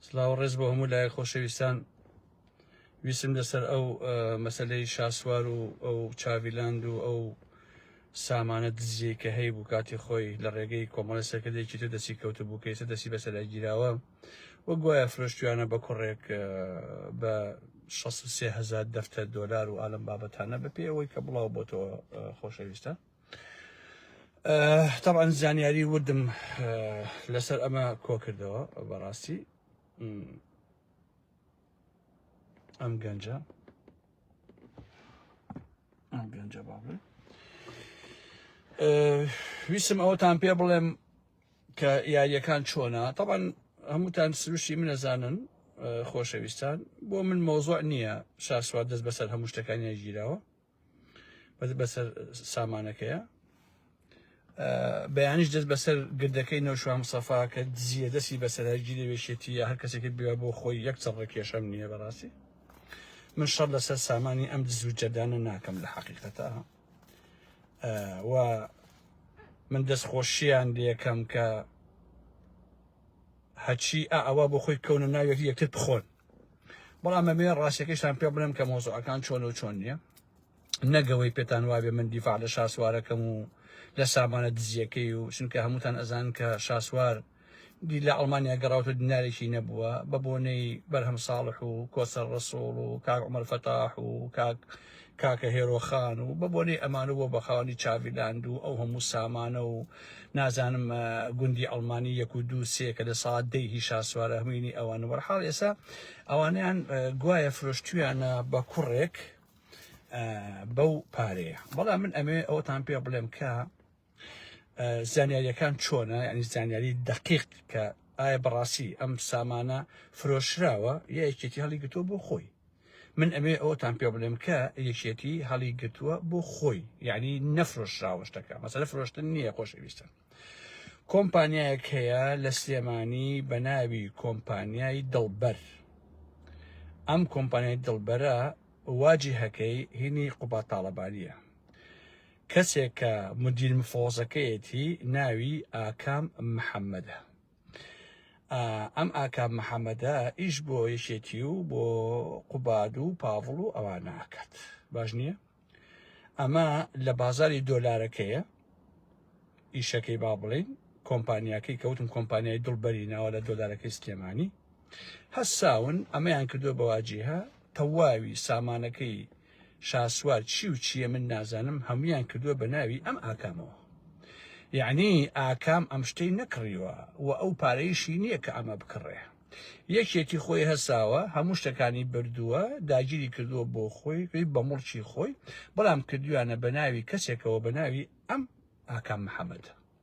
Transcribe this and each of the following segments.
سلاو ڕێز بۆ هەموو لایە خۆشەویستان ویسم لەسەر ئەو مەسلەی شاسوار و ئەو چاویلاند و ئەو سامانە دزیە کە هەی بوو کاتی خۆی لە ڕێگەی کۆمەڵی سەرکردێکی تر دەسی کەوت بوو کە ئێستا دەسی بەسەرای گیراوە و گوایە فرۆشتویانە بە کوڕێک بە 16 هزار دەفتەر دۆلار و ئالم بابەتانە بە پێ ئەوەی کە بڵاو بۆتەوە خۆشەویستە تەبعەن زانیاری وردم لەسەر ئەمە کۆکردەوە بەڕاستی ئەم گەنجە ئەم گەنجە باڵێ ویسم ئەوتان پێ بڵێم کە یاریەکان چۆنا تەبەن هەمووتان سروشی منەزانن خۆشەویستان بۆ من مۆزۆع نییە شاسوار دەست بەسەر هەموو شتەکانیان گیرەوە بەسەر سامانەکەیە بەیانیش دەست بەسەر گردەکەی نەوشوام سەفا کە دزیە دەستی بەسەرگی لەوێشێتی یا هەر کەسێکی بێ بۆ خۆی یەک چڕڕە کێشەم نییە بەڕاستی من شەڕ لەسەر سامانی ئەم دزوو جەدانە ناکەم لە حەقیقەتە و من دەست خۆشییان لەکەم کە هەچی ئەوە بۆ خۆی کەونە ناوێت یەکتر بخۆن بەڵام ئەمێ ڕاستەکەیشتان پێ بڵێم کە مۆزەکان چۆن و چۆن نییە نەگەوەی پێتان وابێ من دیفاع لە شاسوارەکەم و لە سامانە دزیەکەی و چونکە هەمووتان ئەزان کە شاسوار دی لە ئەڵمانیا گەڕاوتە دینارێکی نەبووە بە بۆنەی بەرهەم ساڵح و کۆسەر ڕسوڵ و کاک عمر فەتاح و کاک کاکە هێرۆ خان و بە بۆنەی ئەمان و بۆ بەخاوەنی چاڤی لاند و ئەو هەموو سامانە و نازانم گوندی ئەڵمانی یەک و دوو سێ کە لە ساعت دەی هی شاسوار ئەهمینی ئەوان وەرحاڵ ئێسا ئەوانیان گوایە فرۆشتویانە بە کوڕێک بەو پارەیە بەڵام من ئەمێ ئەوتان پێ بڵێم کە زانیاریەکان چۆنە ینی زانیاری دقیق کە ئایا بەڕاستی ئەم سامانە فرۆشراوە یا یەکێتی هەڵی گرتووە بۆ خۆی من ئەمێ ئەوتان پێ بڵێم کە یەکێتی هەڵی گرتووە بۆ خۆی یعنی نەفرۆشراوەشتەکە مەسەلە فرۆشتن نییە خۆشەویستن کۆمپانیایەک هەیە لە سلێمانی بە ناوی کۆمپانیای دڵبەر ئەم کۆمپانیای دڵبەرە واجی هەکەی هینی قوباتاڵەبانیە کەسێک کە مدیر مفۆزەکەیەتی ناوی ئاکام محەممەدە ئەم ئاکام محەممەدە ئیش بۆ یەکێتی و بۆ قوباد و پاڤڵ و ئەوە ناکات باش نییە ئەمە لە بازاری دۆلارەکەیە ئیشەکەی با بڵین کۆمپانیاکەی کەوتم کۆمپانیای دڵبەری ناوە لە دۆلارەکەی سلێمانی هەساون ئەمەیان کردو بەواجیها تەواوی سامانەکەی شاسوار چی و چیە من نازانم هەمویان کردوە بە ناوی ئەم ئاکامەوە یعنی ئاکام ئەم شتەی نەکڕیوە و ئەو پارەیشی نییە کە ئەمە بکڕێ یەکێتی خۆی هەساوە هەموو شتەکانی بردووە داگیری کردووە بۆ خۆی پێی بە مڵکی خۆی بەڵام کردویانە بە ناوی کەسێکەوە بە ناوی ئەم ئاکام محەممەد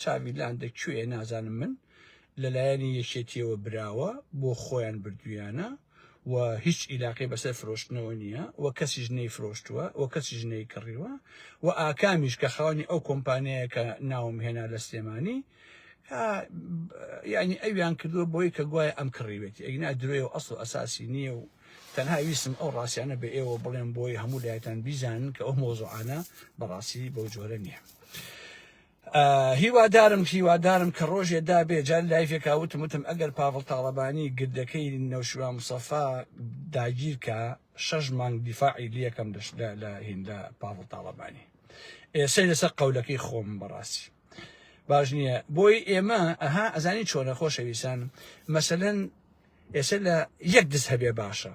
چاڤی لاندە کوێیە نازانم من لەلایەنی یەکێتیەوە براوە بۆ خۆیان بردویانە و هیچ ئیلاقی بەسەر فرۆشتنەوە نییە و کەسیش نەی فرۆشتووە و کەسیش نەی کڕیوە و ئاکامیش کە خاوەنی ئەو کۆمپانیایە کە ناوم هێنا لە سلێمانی یعنی ئەویان کردووە بۆی کە گوایە ئەم کڕیوێتی ئەگنا درۆێ و ئەسڵ ئەساسی نییە و تەنها ویسم ئەو ڕاستیانە بە ئێوە بڵێن بۆی هەموو لایەتان بیزانن کە ئەو مۆزوعانە بەڕاستی بەو جۆرە نییە. هیوادارم هیوادارم کە ڕۆژێ دابێ جار لایفێکا وتم وتم ئەگەر پاڤڵ تاڵەبانی گردەکەی نەوشیوا مسەفا داگیر کە شەش مانگ دیفاعی لەکەم لە هیندا پاڤڵ تاڵەبانی ئێسەی لەسەر قەولەکەی خۆم بەڕاستی باش نییە بۆی ئێمە ئەها ئەزانی چۆنە خۆشەویستان مەسەن ئێسە لە یەک دز هەبێ باشە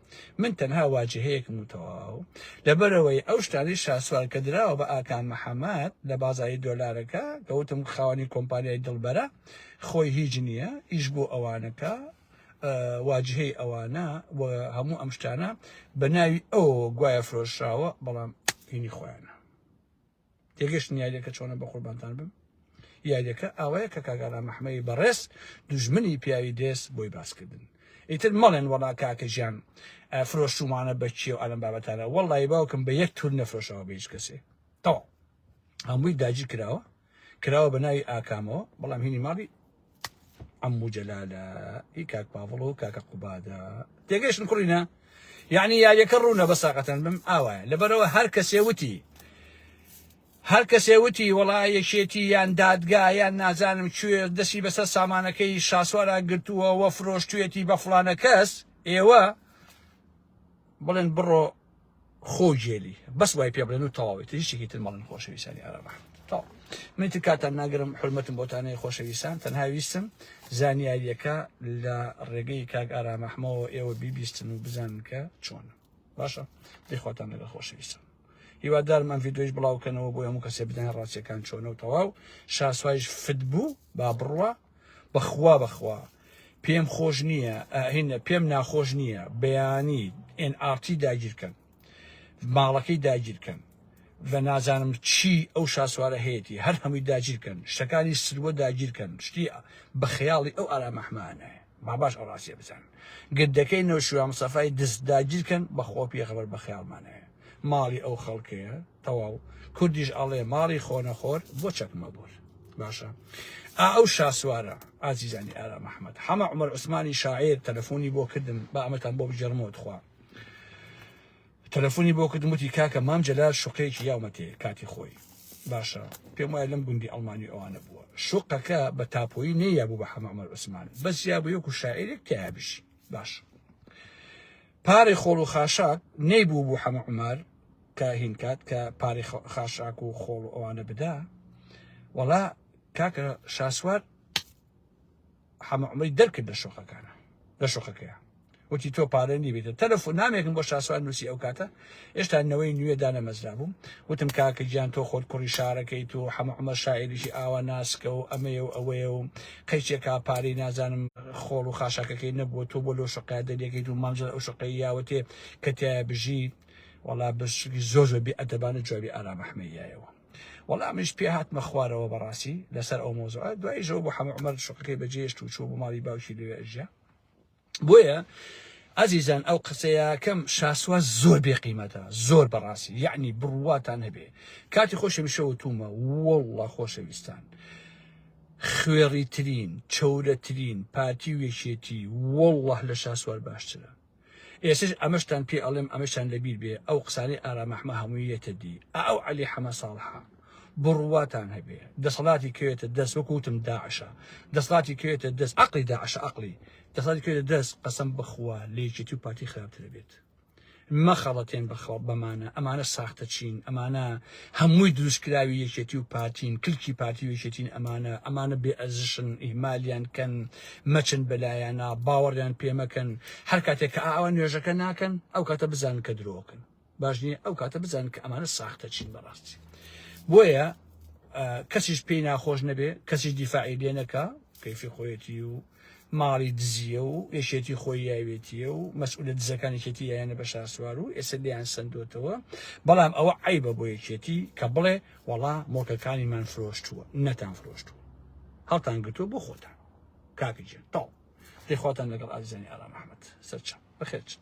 من تەنها واجهەیەکم و تەواو، لەبەرئەوەی ئەو شتانەی شاسوار کە دراوە بە ئاکام محەمەد لە بازاری دۆلارەکە کە وتم خاوەنی کۆمپانیای دڵبەرە خۆی هیچ نیە ئیش بۆ ئەوانەکا واجهەی ئەوانە و هەموو ئەم شتانە بە ناوی ئەوەوە گوایە فرۆشراوە بەڵام هینی خۆیانە. تێگەشتن یاریەکە چۆنە بە قوربانتان بم یاریەکە ئاوایە کە کاگانا مححمەی بەڕێز دوژمنی پیاوی دێس بۆی باسکردن ئیتر مەڵێن وەڵا کاکە ژیان فرۆشتومانە بەچیە و ئەلم بابەتانە وەڵی باوکم بە یەک تور نەفرۆشەوە بە هیچ کەسێ تەواو هەمووی داجی کراوە کراوە بە ناوی ئاکامەوە بەڵام هینی ماڵی عمو جەلالە ئی کاک پاڤڵ و کاکە قوبادە تێگەشتن کوڕینە یعنی یاریەکە ڕوونە بە ساقەتەن بم ئاوایە لەبەرەوە هەر کەسێ وتی هەر کەسێ وتی وڵا یەکێتی یان دادگا یان نازانم کوێ دەسی بەسەر سامانەکەی شاسوارا گرتووە وە فرۆشتوێتی بە فلانە کەس ئێوە بڵێن بڕۆ خۆ گێلی بەس وای پێ بڵێن و تەواوی تر هیچێکی تر مەڵن خۆشەویستانی ئەرەبە تا من تر کاتان ناگرم حرمەتم بۆتانەیە خۆشەویستان تەنها ویستم زانیاریەکە لە ڕێگەی کاک ئارامەحمەوە ئێوە بیبیستن و بزانن کە چۆن باشە دەیخواتان لەگە خۆشەویستان هیوادارم ئەم ڤیددیوش بڵاوکەنەوە بۆ هەموو کەسێ بدەن ڕاستیەکان چۆنە و تەواو شاسوایش فت بوو با بڕوە بەخوا بەخوا پێم خۆش نییە هینە پێم ناخۆش نییە بەیانی ئێن ئارتی داگیرکەن ماڵەکەی داگیرکەن بە نازانم چی ئەو شاسوارە هەیەی هەر هەمووی داگیرکەن شتەکانی سروە داگیرکەن شتی بە خەیاڵی ئەو ئارامەحمانە باباش ئەڕاستێ بزان گردەکەی نەوشوام سەفای دز داگیرکەن بەخۆ پێخەبەر بە خەیاڵمانەیە ماڵی ئەو خەڵکەیە تەواو کوردیش ئەڵێ ماڵی خۆنەخۆر بۆ چەکمە بۆر باشە ئا ئەو شاسوارە ئازیزانی ئارا مححمد حەمە عمر عوسمانی شاعیر تەلەفۆنی بۆ کردم بە ئەمەتان بۆ بجێڕمەوە تخوا تەلەفۆنی بۆ کردم وتی کاکە مام جەلال شوقەیەکی یاومەتێ کاتی خۆی باشە پێم وایە لەم گوندی ئەڵمانی ئەوانە بووە شوقەکە بە تاپۆیی نەیە بوو بە حەمە عمر عوسمان بەس یا بوو یەکو شاعیرێک تیا بژی باشە پارەی خۆڵ و خاشاک نەیبوو بوو حەمە عومەر کە هین کات کە پارەی خاشاک و خۆڵ و ئەوانە بدا وەڵا کاکە شاسوار حەمە عومەری دەرکرد لە شۆخەکانە لە شۆخەکەیە وتی تۆ پارە نیبێتە تەلەفۆن نامێکم بۆ شاسوار نووسی ئەو کاتە هێشتا نەوەی نوێ دانەمەزرابوو، وتم کاکە گیان تۆ خۆت کوڕی شارەکەیت و حەمە عومەر شاعیرێکی ئاوا ناسکە و ئەمەیە و ئەوەیە و قەیچێ کا پارەی نازانم خۆڵ و خاشاکەکەی نەبووە تۆ بۆ لەو شوقەیە دەریەکەیت و مامزاد ئەو شوقەی یاوەتێ کە تیایە بژیت وەڵا بەشتێکی زۆر زۆر بێ ئەدەبانە جوابی ئارام ئەحمەی یایەوە وەڵا منیش پێ هاتمە خوارەوە بەڕاستی لەسەر ئەو مەوزوعە دواییش ئەو بۆ حەمە عومەر شوقەکەی بەجێ هێشت و چووە بۆ ماڵی باوکی لەوێ ئەژیا. بۆیە ئەزیزان ئەو قسەیەکەم شاسوا زۆر بێ قیمەتە زۆر بەڕاستی یعنی بڕواتان هەبێ کاتی خۆشەمیشەوە تومە وڵە خۆشەویستان خوێڕی ترین چەورەترین پارتی و یەکێتی وڵه لە شاسوار باشترە ئێسش ئەمەشتان پێ ئەڵێم ئەمەشان لەبیر بێ ئەو قسانەی ئارامەحمە هەمووی یەتە دی ئەو علی حەمە ساڵحە بڕواتان هەبێ دەسەڵاتی کەوێتە دەست وەکو وتم داعشە دەسەڵاتی کەوێتە دەست عقلی داعشە عقلی دەسەڵاتی کەوێتە دەست قەسەم بخوا لەیەکێتی و پارتی خراپتر بێت مەخەڵەتێن بەخەڵ بەمانە ئەمانە ساختە چین ئەمانە هەمووی دروستکراوی یەکێتی و پارتین کلکی پارتی و یەکێتین ئەمانە ئەمانە بێ ئەزشن ئیمالیان کەن مەچن بەلایەنە باوەڕیان پێمەکەن هەر کاتێک کە ئاوا نوێژەکە ناکەن ئەو کاتە بزانن کە درۆکن باش نییە ئەو کاتە بزانن کە ئەمانە ساختە چین بەڕاستی بۆیە کەسیش پێی ناخۆش نەبێ کەسی دیفاعی لێ نەکە کەیفی خۆیەتی و ماڵی دزیە و یەکێتی خۆی یاوێتیە و مەسئولە دزەکانێکێتی یانە بە شاسوار و ئێستا لیان سندۆتەوە بەڵام ئەوە عیبە بۆ یەکێتی کە بڵێ وەڵا مۆکەکانی من فرۆشتووە نەتان فرۆشتووە هەڵتان گرتووە بۆ خۆتان کاکە جێن تاڵ دەخواتان لەگەڵ ئازیزانی ئارام ئەحمد سەرچە بەخێرچن